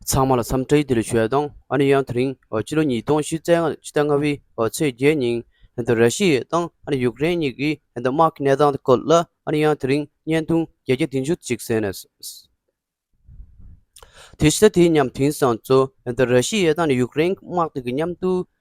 ཚང་མ་ལ་འཚམས་འདྲི་འདི་ལོའི་ཆོས་དང་ཨ་ནེ་ཡང་དེ་རིང་སྤྱི་ལོ་ཉིས་སྟོང་བཞི་ཚེས་ལྔ་བའི་ཚེས་བརྒྱད་ཉིན་ར་ཤི་ཡའི་དང་ཨ་ནེ་ཡུག་རེན་གཉིས་ཀྱི་དམག་གི་གནས་སྟངས་དེ་སྐོར་ལ་ཨ་ནེ་ཡང་དེ་རིང་བརྙན་ཐུང་བརྒྱད་བརྒྱ་བདུན་ཅུ་གཅིག་བཟས་ནས་དེ་ཕྱི་ཟླ་དེའི་མཉམ་དེང་སང་ཚོ་ར་ཤི་ཡའི་དང་ཨ་ནེ་ཡུག་རེན་དམག་དེ་གཉིས་མཉམ་དུ་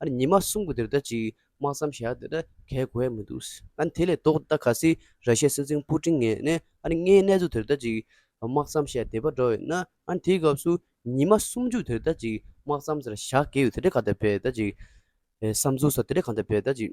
ཨ་རེ་ཉི་མ་གསུམ་གོ་དེར་ད་ཅིག་དམག་མཚམས་བཞག་དེ་ད་གས་གོ་ཡ་མི་འདུག་ཨ་རེ་དེ་ལས་ལྡོག་ད་ག་སི་ར་ཤའི་སྲིད་འཛིན་པུ་ཀྲིན་ངས་ཨ་རེ་ངའི་གནས་ཚུལ་དེར་ད་ཅིག་དམག་མཚམས་བཞག་བསྡད་པ་འདྲ་བས་ན་ཨ་རེ་དེའི་སྐབས་སུ་ཉི་མ་གསུམ་བཅུ་དེར་ད་ཅིག་དམག་མཚམས་བཞག་གས་ཡོད་དེ་འདྲས་ག་ད་བས་ད་ཅིག་བསམ་ཚུལ་སོགས་དེ་འདྲས་གང་ད་བས་ད་ཅིག།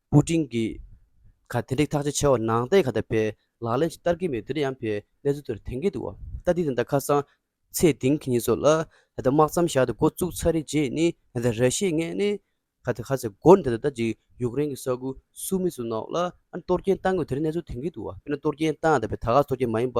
པུ་ཀྲིན་གྱིས། ག་དེ་འགྲིག་ཐག་ཆ་ཆེ་བ་ནང་བསྟན་ག་ད་ཕེ། ལག་ལེན་ཅིག་བསྟར་གྱི་མེད་དེར་ཡང་ཕེ་གནས་ཚུལ་དེར་དེང་གི་འདུག་བ་ད་དེ་དེ་འདྲ་ཁ་སང། ཚེ་དིང་གི་ཉིད་སོགས་ལ། ད་ལྟ་དམག་མཚམས་བཞག་སྟེ་འགོ་བཙུགས་ཚར་རེད་ཅེས་ནི་ད་ད་ར་ཤེས་ངེས་ནི། ག་དེ་ག་ཚེ་འགོ་ནི་ད་ད་ལྟ་ཅིག་ཡུག་རེན་གྱི་ས་ཁུལ་སུ་མི་སུ་ནོག་ལ་ཨ་ནི་གཏོར་སྐྱེན་བཏང་དགོས་དེར་གནས་ཚུལ་དེང་གི་འདུག་བ་ཕེ་ན་གཏོར་སྐྱེན་བཏང་ད་ཕེ་ད་ག་གཏོར་སྐྱེན་མ་ཡིན་པ།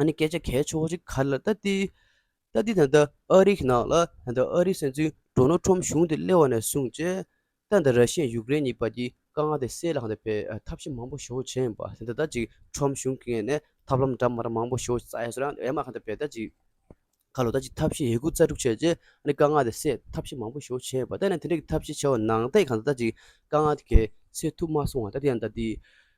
ཨ་ནི་སྐད་ཆ་གལ་ཆེ་བོ་ཞིག་གར་ལ་ལྟ་དེ། ལྟ་དེ་ད་ལྟ་ཨ་རིའི་ནང་ལ་ད་ལྟ་ཨ་རིའི་སྲིད་འཛིན་འདྲོ་ནོ་ཁྲོམ་གཞུང་དེ་སླེ་བ་ནས་བཟུང་རྗེས། ད་ལྟ་ར་ཤི་ཡན་ཡུག་རེན་གཉིས་བར་གྱི་དཀའ་ངལ་དེ་སེལ་ལྷག་དེ་བས་ཐབས་ཤེས་མང་པོ་ཞུ་བྱས་ཡིན་པ་དེ་ད་ལྟ་ཅིག་ཁྲོམ་གཞུང་གི་ངེས་ནས་ཐབས་ལམ་འདྲ་མར་མང་པོ་ཞུ་བྱས་ཡོད་རང་ཨེ་མ་ཁ་དེ་བས་ད་ཅིག་ཁ་ལོ་ད་ཅིག་ཐབས་ཤེས་ཡས་ཁུ་རྩ་དྲུག་བྱས་རྗེས་ཨ་ནི་དཀའ་ངལ་དེ་སེལ་ཐབས་ཤེས་མང་པོ་ཞུ་བྱས་ཡོད་པ་ད་ནི་དེ་འདྲ་གི་ཐབས་ཤེས་བྱས་བ་ནང་བསྟན་གང་ད་ད་ཅིག་དཀའ་ངལ་དེ་གས་སེལ་ཐུབ་མ་སོང་བ་ད་དེ་ཡང་ད་དེ།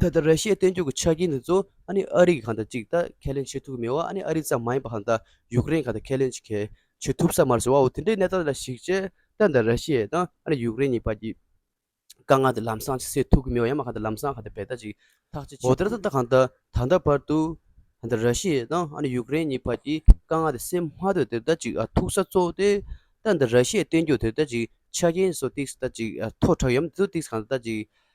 ད་ལྟ་ར་ཤི་ཡའི་བརྟན་བཞུགས་ཀྱི་ཆ་རྐྱེན་དེ་ཚོ་ཨ་ནི་ཨ་རི་གིས་གང་དང་ཅིག་ད་ཁས་ལེན་བྱེད་ཐུབ་ཀྱི་མེད་བ་ཨ་ནི་ཨ་རི་ཙམ་མ་ཡིན་པ་གང་ད་ཡུཀ་རེན་གང་དང་ཁས་ལེན་གྱི་གལ་ཆེ་ཐུབ་ས་མ་རེད་ཟེར་བའོ་དེ་འདྲའི་གནས་སྟངས་ལ་གཞིགས་ཆེད་ད་ད་ར་ཤི་ཡའི་དང་ཨ་ནི་ཡུཀ་རེན་གཉིས་བར་གྱི་དཀའ་ངལ་དེ་ལམ་སང་ཅིག་སེལ་ཐུབ་ཀྱི་མེད་བ་ཡང་མ་གང་ད་ལམ་སང་གང་ད་བལ་ཐག་ཅིག་ཐག་བཅད་ཆེད་དུ། འོ་ད་ལྟ་གང་ད་ད་ལྟ་བར་དུ་ད་ད་ར་ཤི་ཡའི་དང་ཨ་ནི་ཡུཀ་རེན་གཉིས་བར་གྱི་དཀའ་ངལ་དེ་སེལ་མ་འདོད་དེ་ད་ཅིག་ཐུག་ས་གཙོ་བོ་དེ་ད་ད་ར་ཤི་ཡའི་བརྟན་བཞུགས་དེ་ད་ཅིག་ཆ་རྐྱེན་སོགས་ཏིག་ད་ཅིག་མཐོ་དྲགས་ཡོད་མ་དེ་ཚོ་ཏིག་གང་ད་ད་ཅིག་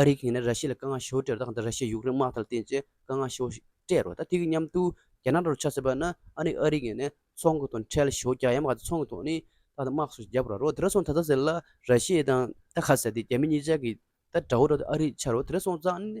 ཨ་རིའི་གིང་ནས་ར་ཤི་ཡ་ལ་དཀའ་ངལ་ཞོ་སྤྲད་རོ་དང་ར་ཤི་ཡ་ཡུག་རེན་དམག་དང་བསྟེན་ཚེ་དཀའ་ངལ་ཞོ་སྤྲད་རོ་དང་དེ་གི་མཉམ་དུ་རྒྱ་ནག་ལ་རོ་ཆ་ཟེར་བ་ན་ཨ་ནི་ཨ་རིའི་གིང་ནས་ཚོང་གི་དོན་ཁྲལ་ཞོ་རྒྱ་ཡམ་ག་ཚོང་གི་ཐོག་ནི་ད་དམག་སུ་རྒྱབ་ར་རོ་དེ་ར་སོང་ད་ད་ཟེར་ལ་ར་ཤི་ཡ་དང་ད་ཁ་ཟེར་དེ་རྒྱ་མི་གཉིས་ཅག་གི་ད་འདྲ་བོ་རོ་དེ་ཨ་རི་ཆ་རོ་དེ་ར་སོང་ཙང་ནི་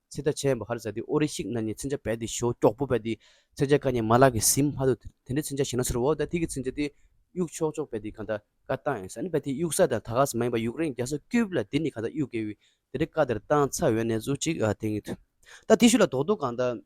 ཚེ་ད་ཆའི་བ་ཧར་བཟའ་དེ་ཨོ་རེ་ཤིག་ན་ནི་ཚིན་ཆ་བད་དེ་ཞོ་ཀྱོག་པོ་བད་དེ་ཚེ་ཆ་ཀ་ནི་མ་ལག་གི་ཟིན་མ་ཏོ་དེ་འདྲའི་ཚིན་ཆ་ཞིག་ན་ཚོར་བའོ་ད་ཐིག་གི་ཚིན་ཆ་དེ་གཡུག་ཆོག་ཆོག་བད་དེ་ག་ད་ཀ་བཏང་ཡིན་ས་ནི་བད་དེ་གཡུག་ས་དང་ད་ག་ས་མ་ཡིན་པ་ཡུག་རེན་རྒྱ་སོ་ཀྱུབ་ལ་དེ་ནི་ག་ད་གཡུག་དགེ་བའི་དེ་འདྲའི་ཀ་དེར་བཏང་ཚ་འོད་ནས་ཟུག་ཅིག་དེང་གི་ད་དེ་ཤུ་ལ་དོག་དོག་གང་ད།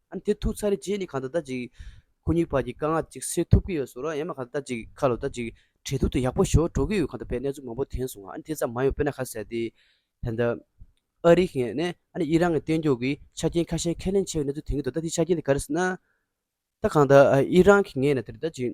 ཨ་དེ་ཐུག་ཚར་རེ་རྗེས་ནི་གང་ལྟར་ད་ཅིག་ཁོ་གཉིས་བར་གྱི་དཀའ་ངལ་ཅིག་སེལ་ཐུབ་ཀྱི་ཡོད་བཟོ་རོགས་ཡེངས་མ་གང་ལྟར་ད་ཅིག་ཁ་ལོ་ད་ཅིག་གྲལ་དུག་ཏུ་ཡག་པོ་ཞོག་འགྲོ་གི་ཡོད་གང་ལྟར་བས་གནས་ཚུལ་མང་པོ་དེངས་སོང་ང་ཨ་དེ་ཙམ་མ་ཡོང་དཔེར་ན་ཁ་ཟེར་ཏེ་ད་ལྟ་ཨ་རིག་ངས་ནས་ཨ་ནི་ཨི་རང་གི་གཏན་འཇོག་གི་ཆ་རྐྱེན་ཁ་ཤས་ཁས་ལེན་བྱས་པའི་གནས་ཚུལ་དེངས་གི་འདུག་ད་དེ་ཆ་རྐྱེན་དེ་ག་རེ་ཟེར་ན། ད་གང་ལྟར་ཨི་རང་གིས་ངས་ནས་དེར་ད་ཅིག།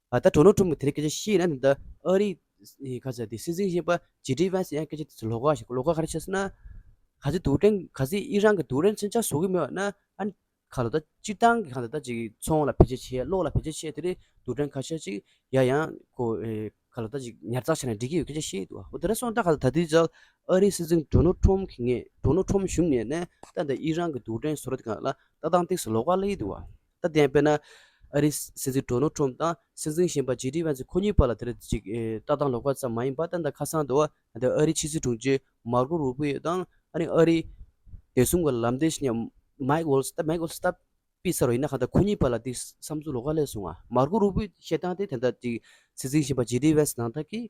ད་ལྟ་གྲོ་ནོར་ཁྲོམ་གྱི་དེ་རིང་སྐད་ཆ་བཤད་ཡིན་ན་དེ་ལྟ་ཨ་རིའི། ག་ཚད་དེ་སྲིད་འཛིན་གཞན་པ་ཇེ་ཏྲི་བྷན་སི་ཡང་སྐད་ཆ་དེ་ཚོ་ལོག་ག་ཞིག་ལོག་ག་ག་རེ་བཤད་སྲིད་ན། ག་ཚོད་དུག་སྤྲིན་ག་ཚོད་ཨི་རན་གྱི་དུག་རན་ཚོན་ཆ་བཟོ་གི་མེད་བ་ན་ཨ་རི་ཁ་ལོ་ད་སྤྱིར་བཏང་གི་ཁང་ད་ལྟ་ཅིག་ཚོང་ལ་བེད་སྤྱད་བྱས་གློག་ལ་བེད་སྤྱད་བྱས་དེ་རིང་དུག་སྤྲིན་ཁ་ཤས་ཅིག་ཡ་ཡང་ཁོ་ཁ་ལོ་ད་ཅིག་ཉར་ཚགས་བྱས་ན་འགྲིག་གི་ཡོད་སྐད་ཆ་བཤད་ཡི་འདུག་ཨ་ཨོ་དེ་འདྲ་སོང་ད་ག་ད་ད་དུས་ཇག་ཨ་རིའི་སྲིད་འཛིན་གྲོ་ནོར་ཁྲོམ་གྱི་ངས་གྲོ་ནོར་ཁྲོམ་བཞུགས་ནས་ནས་ད་ད་ཨི་རན་གྱི་དུག་སྤྲིན་བཟོ་ར་དེ་ག་ལ་ད་ཏང་སྟེགས་སུ་ལོག་ག་སླེ་ཡི་འདུག་ཨ། ད་ལྟའི་དཔེར་ན། ཨ་རིའི་སྲིད་འཛིན་དྲོ་ནོ་ཁྲོམ་དང་སྲིད་འཛིན་གཞན་པ་ཇེ་ཏི་བྷན་ཚི་ཁོ་གཉིས་བར་ལ་དེར་ཅིག་ལྟ་སྟངས་ལོག་པ་ཙམ་མ་ཡིན་པར་ད་ལྟ་ཁ་སང་དུ་ཨ་རིའི་ཕྱི་སྲིད་དྲུང་ཆེ་མཱར་ཀོ་རུ་པི་ཡོ་དང་ཨ་རིའི་ཨ་རིའི་བདེ་སྲུང་གི་ལམ་སྟོན་ཞིག་མཱིག་ཝོལ་སི Mike Waltz ལྟ་སྤེལ་ས་རུ་ཡིན་ནའང་ད་ཁོ་གཉིས་བར་ལ་དེ་བསམ་ཚུལ་ལོག་ཁ་སླེབས་སོང་ང་མཱར་ཀོ་རུ་པི་ཡོས་བཤད་སྟངས་དེ་དེ་ལྟར་ཅིག་སྲིད་འཛིན་གཞན་པ་ཇེ་ཏི་བྷན་ཚི་ནང་ཐག་གིས།